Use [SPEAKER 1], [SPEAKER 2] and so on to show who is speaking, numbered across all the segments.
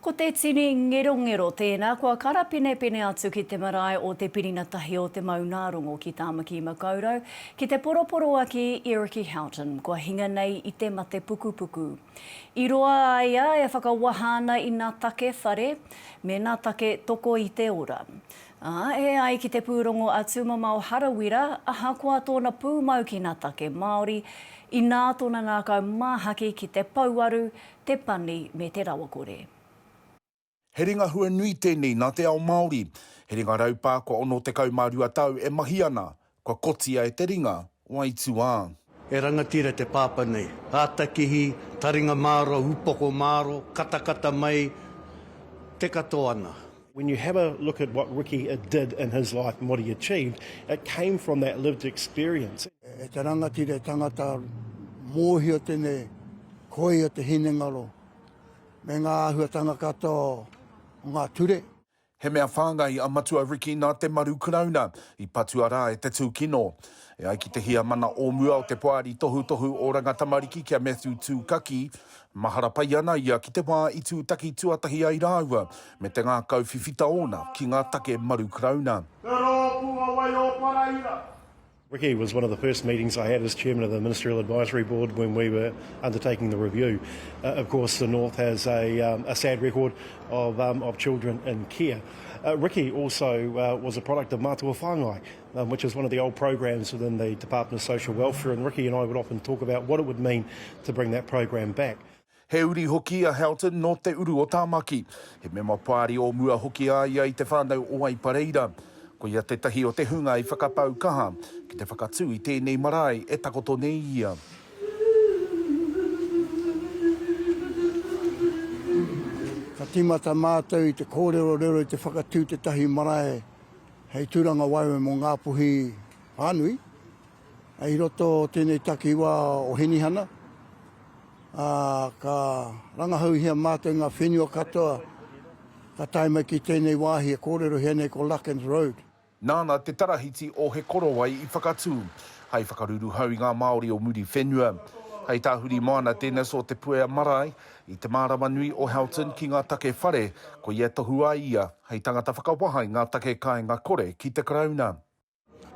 [SPEAKER 1] Ko te tini ngerongero tēnā kua karapinepine atu ki te marae o Te Pirina Tahi o Te Maungārongo ki Tāmaki-makau-rau, ki te poroporoaki i Ricky Houghton, kua hinga nei i te mate pukupuku. I roa a ia e whakawaha ana i nā take whare, me nā take toko i te ora. Ā, e ai ki te pūrongo a Tūmamao Harawira, ahakoa tōna pūmau ki nā take Māori, inā tōna ngākau māhaki ki te pouaru, te pani me te rawakore.
[SPEAKER 2] He ringa hua nui tēnei nā te ao Māori. He ringa raupā kua 62 tau e mahi ana, kua kotia e te ringa o aituā. He rangatira
[SPEAKER 3] te pāpā nei. Ātakihi, taringa māro, upoko māro, katakata mai, te katoa ana. When you have a
[SPEAKER 4] look at what Ricky did in his life and what he achieved, it came from that lived experience. E te rangatira,
[SPEAKER 5] e tangata, mōhio tēnei koia te hinengaro me ngā āhuatanga katoa o ngā ture. He mea
[SPEAKER 2] whāngai a Matua Ricky nā te maru Karauna i patua rā e te tūkino. E ai ki te Heamana o mua o te Poari Tohutohu Oranga Tamariki ki a Matthew Tūkaki, mahara pai ana ia ki te wā i tūtaki tuatahi ai rāua me te ngākau whiwhita ōna ki ngā take maru Karauna. Te Rōpū a Waioparaira.
[SPEAKER 4] Ricky was one of the first meetings I had as chairman of the Ministerial Advisory Board when we were undertaking the review. Uh, of course, the North has a, um, a sad record of, um, of children in care. Uh, Ricky also uh, was a product of Matua Whangai, which is one of the old programs within the Department of Social Welfare and Ricky and I would often talk about what it would mean to bring that program back. He uri hoki
[SPEAKER 2] a Houghton nō Te Uru o Tāmaki. He mema Pāri o mua hoki a ia i Te Whānau o Aipareira. Ko ia tētahi o te hunga i whakapau kaha ki te whakatū i tēnei marae e takoto nei ia.
[SPEAKER 5] Ka tīmata mātou i te kōrerorero i te whakatū tētahi marae Hei tūranga waewae mō Ngāpuhi whānui, i roto o tēnei takiwā o Hinihana, ā, ka rangahauhia mātou ngā whenua katoa ka tae mai ki tēnei wāhi e kōrerohia nei ko Larkins Road. Nāna te
[SPEAKER 2] Tarahiti o He Korowai i whakatū, hai whakaruruhau i ngā Māori o Muriwhenua. Hai tāhuri moana tēnei so Te Puea Marae, I te mārama nui o Houghton ki ngā take whare, ko ia e tohu ai ia hei tangata whakawaha i ngā take kāinga kore ki te Karauna.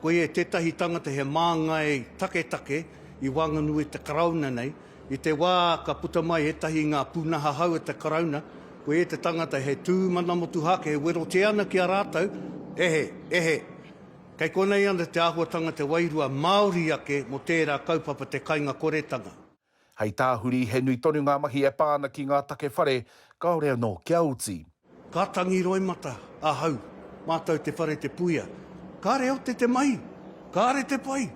[SPEAKER 2] Ko ia
[SPEAKER 3] tētahi tangata he māngai taketake i waenganui i te Karauna nei. I te wā ka puta mai ētahi i ngā pūnaha hou o te Karauna, ko ia te tangata he tū mana motuhake e werotia ana ki a rātou, Ehe, ehe, kei konei ana te āhuatanga te wairua Māori ake mō tērā kaupapa te kainga koretanga. Hei tāhuri,
[SPEAKER 2] he nui tonu ngā mahi e pā ana ki ngā take whare, kāore anō kia oti. Ka tangi
[SPEAKER 3] roimata ahau, mātou te whare te puia. Kāre ote te mahi? Kāre te pai!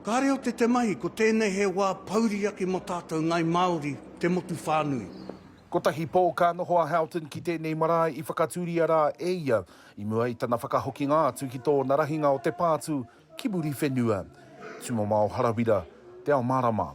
[SPEAKER 3] Kāre ote te mahi, ko tēnei he wā pouri ake mō tātou Ngāi Māori, te motu whānui. Kotahi pō
[SPEAKER 2] ka noho a Houghton ki tēnei marae i whakatūria rā e ia, i mua i tana whakahokinga atu ki tōna rahinga o te pātū Ki Muriwhenua, Tumamao Harawira, Te Ao Marama.